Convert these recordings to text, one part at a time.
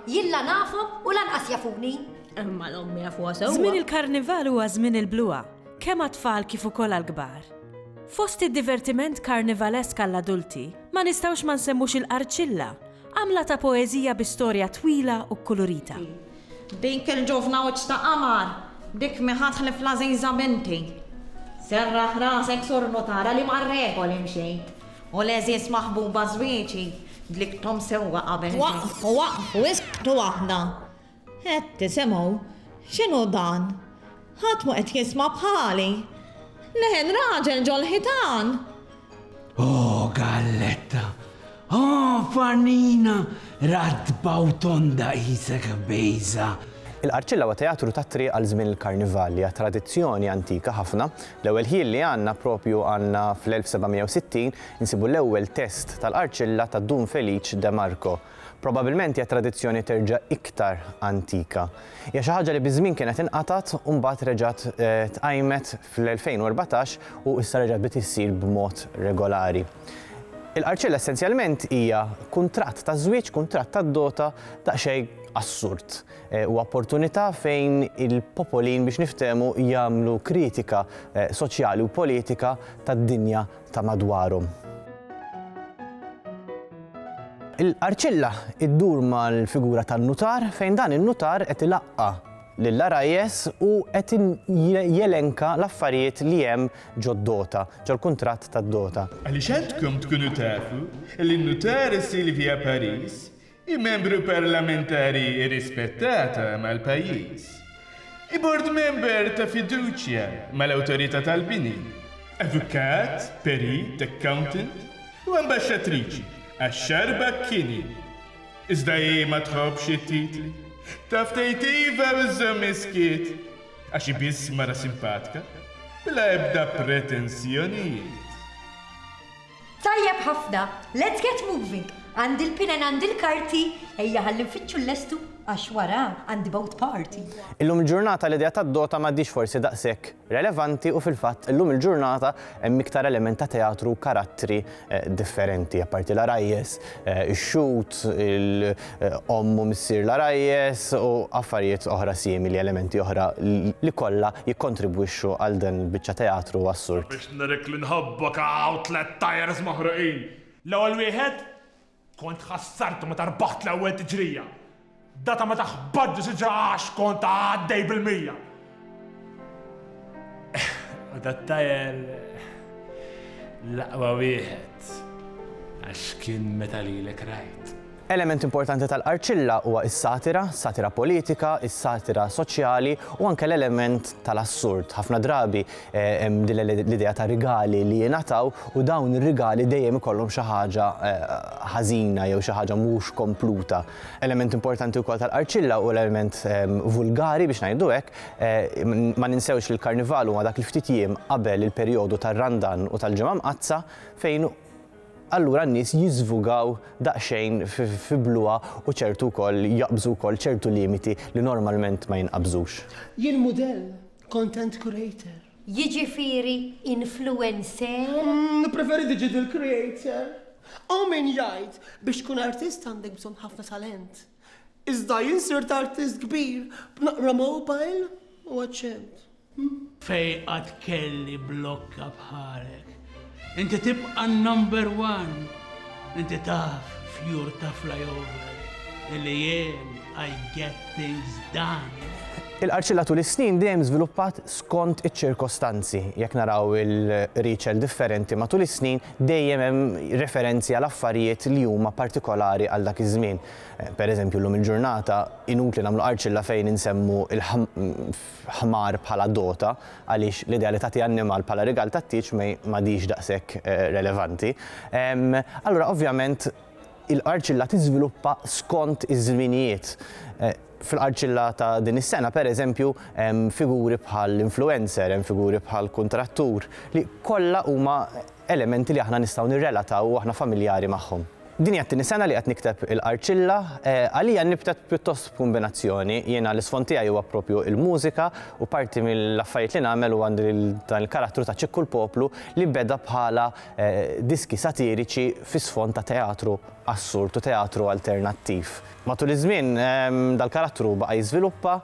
Jien la nafhom u lanqas jafuni. Imma l-ommi jafuha sewwa. Żmien il-karnival huwa żmien il-bluha, kemm għat-tfal kif ukoll għall-kbar. Fost id-divertiment karnivalesk għall-adulti, ma nistgħux ma nsemmux il-qarċilla, għamla ta' poeżija bi storja twila u kkulurita. Dik il-ġuvna wiċċ ta' qamar, dik mi ħatlif l-għażiża binti. Serraħ rasek Sur Nutara li mar-regoli mxejt, u l-għeżież maħbuba żwieġi dlikthom sewwa qabel ġejt. Waqfu, waqfu, isktu waħda! Qed tisimgħu? X'inhu dan? Ħadd mhu qed jisma' bħali! Leħen raġel ġol-ħitan! Oh, galletta! Oh, farnina ratba u tonda qisek bejża! Il-Qarċilla huwa teatru tat-triq għal żmien il-Karnival li hija tradizzjoni antika ħafna. L-ewwel ħjiel li għandna proprju għandna fl-1760 insibu l-ewwel test tal-Qarċilla ta' Dun Felice de Marco. Probabilment hija tradizzjoni terġa' iktar antika. Hija xi ħaġa li biż-żmien kienet inqatgħet u mbagħad reġgħet tqajmet fl-2014 u issa reġgħet bdiet issir b'mod regolari. Il-qarċilla essenzjalment hija kuntratt ta' żwieġ, kuntratt ta' dota daqsxejn assurd. Huwa opportunità fejn il-popolin biex niftehmu jagħmlu kritika soċjali u politika tad-dinja ta' madwarhom. Il-qarċilla ddur mal-figura tan-nutar fejn dan in-nutar qed ilaqqa' lill-għarajjes u qed jelenka l-affarijiet li hemm ġod-dota, ġol-kuntratt tad-dota. Għaliex għandkom tkunu tafu li n-nutar Sylvia Paris Hi membru parlamentari irrispettata mal-pajjiż. Hi board member ta' fiduċja mal-Awtorità tal-Bini. Avukat, perit, accountant u ambaxxatriċi għax-Xahar Bakkini. Iżda hi ma tħobbx it-titli. Taf tgħid iva u żżomm is-skiet. Għax hi biss mara simpatka, bla ebda pretensjonijiet. Tajjeb ħafna! Let's get moving! Għandi l-pen and għandi l-karti, ejja ħalli nfittxu l-lestu għax wara għandi boat party! Illum il-ġurnata l-idea tad-dota m'għadhiex forsi daqshekk relevanti u fil-fatt illum il-ġurnata hemm iktar element ta' teatru u karattri differenti, apparti l-għarajjes, ix-xhud, omm u missier l-għarajjes u affarijiet oħra simili, elementi oħra li kollha jikkontribwixxu għal din il-biċċa teatru assurd. Nirrikk li nħobbok hawn tliet tyres maħruqin. L-ewwel wieħed? Kont ħassartu meta rbaħt l-ewwel tiġrija. Data meta ħbatt ġo siġra għax kont għaddej bil-mija. U dat-tyre l-aqwa wieħed għax kien meta lilek rajt. Element importanti tal-Qarċilla huwa is-satira, satira politika, is-satira soċjali u anke l-element tal-assurd. Ħafna drabi hemm din l-idea ta' rigali li jingħataw u dawn ir-rigali dejjem ikollhom xi ħaġa ħażina jew xi ħaġa mhux kompluta. Element importanti wkoll tal-Qarċilla hu l-element vulgari biex ngħidu hekk. Ma ninsewx li l-Karnival huma dak il-ftit jiem qabel il-perjodu tar-Randan u tal-Ġimgħa Mqaddsa fejn allura n-nies jiżvugaw daqsxejn fi bluha u ċertu wkoll jaqbżu wkoll ċertu limiti li normalment ma jinqabżux. Jien mudell, content creator. Jiġifieri influencer? Nippreferi digital creator. Hawn min jgħid biex tkun artist għandek bżonn ħafna talent. Iżda jien sirt artist kbir b'naqra mobile u aċċent. Fejn qatt kelli blokka bħalek. Inti tibqa' n-number one. Inti taf fjur ta' flyover illi jien I get things done. Il-Qarċilla tul is-snin dejjem żviluppat skont iċ-ċirkostanzi. Jekk naraw il-Qriċel differenti matul is-snin dejjem hemm referenzi għal affarijiet li huma partikolari għal dak iż-żmien. Pereżempju llum il-ġurnata inutli nagħmlu Qarċilla fejn insemmu ħmar bħala dota għaliex l-idea li tagħti annimal bħala rigal tat-tieġ ma mhadhiex daqshekk relevanti. Allura ovvjament il-qarċilla tiżviluppa skont iż-żminijiet. Fil-qarċilla ta' din is-sena pereżempju hemm figuri bħall-influencer, hemm figuri bħall-kuntrattur li kollha huma elementi li aħna nistgħu nirrelataw u aħna familjari magħhom. Din hija t-tieni sena li qed nikteb il-qarċilla. Għalija nibtet pjuttost b'kumbinazzjoni. Jiena l-isfond tiegħi huwa proprju il-mużika u parti mill-affarijiet li nagħmel huwa għandi dan il-karattru ta' Ċikku l-Poplu li beda bħala diski satiriċi fi sfond ta' teatru assurd u teatru alternattiv. Matul iż-żmien dal-karattru baqa' jiżviluppa,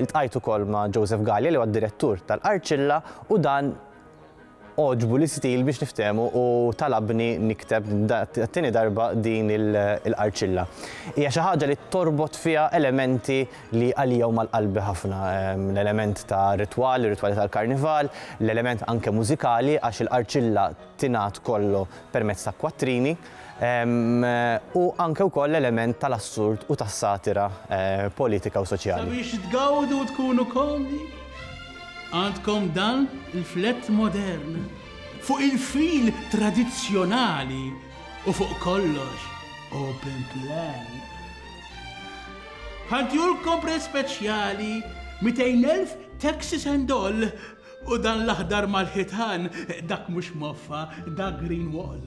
iltqajt ukoll ma' Joseph Galea li huwa d-direttur tal-qarċilla u dan, Għoġbu l-istil biex niftehmu u talabni nikteb għat-tieni darba din il-qarċilla. Hija xi ħaġa li torbot fiha elementi li għalija huma l-qalbi ħafna, l-element ta' ritwal, ir-ritwali tal-Karnival, l-element anke mużikali għax il-qarċilla tingħad kollu permezz ta' kwattrini. u anke wkoll l-element tal-assurd u tas-satira politika u soċjali. Sabiex tgawdu u tkunu komdi, għandkom dan il-flett modern fuq il-fil tradizzjonali u fuq kollox open plan. Bħal tjur kompre speċjali 200,000 taxis and all, U dan l-aħdar mal-ħitan, dak mhux moffa, dak green wall.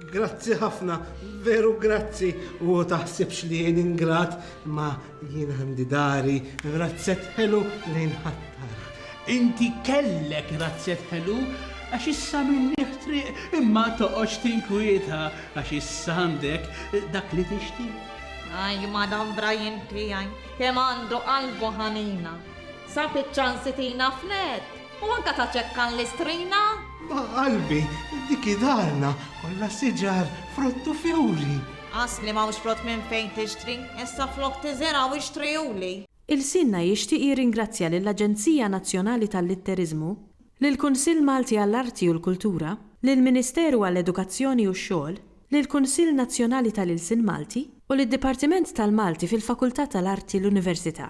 Grazzi ħafna, veru grazzi, u taħsibx li jien ingrat, imma jien għandi dari, razzett ħelu li nħattar. Inti kellek razzett ħelu, għax issa minnieh triq, imma toqgħodx tinkwieta, għax issa għandek dak li tixtieq. Aj, madanbra jien tiegħi, kemm għandu qalbu ħanina. Sa fiċ-ċansi tina fnedd. U anka ta' ċekkan l-istrina. Ma' qalbi, dik hi darna. Kollha siġar, frott u fjuri. Għax li m'hawnx frott minn fejn tixtri, issa flok tiżirgħu ixtrihuli. Ilsienna jixtieq jirringrazzja lill-Aġenzija Nazzjonali tal-Litteriżmu, lill-Kunsill Malti għall-Arti u l-Kultura, lill-Ministeru għall-Edukazzjoni u x-Xogħol, lill-Kunsill Nazzjonali tal-Ilsien Malti u lid-Dipartiment tal-Malti fil-Fakultà tal-Arti l-Università.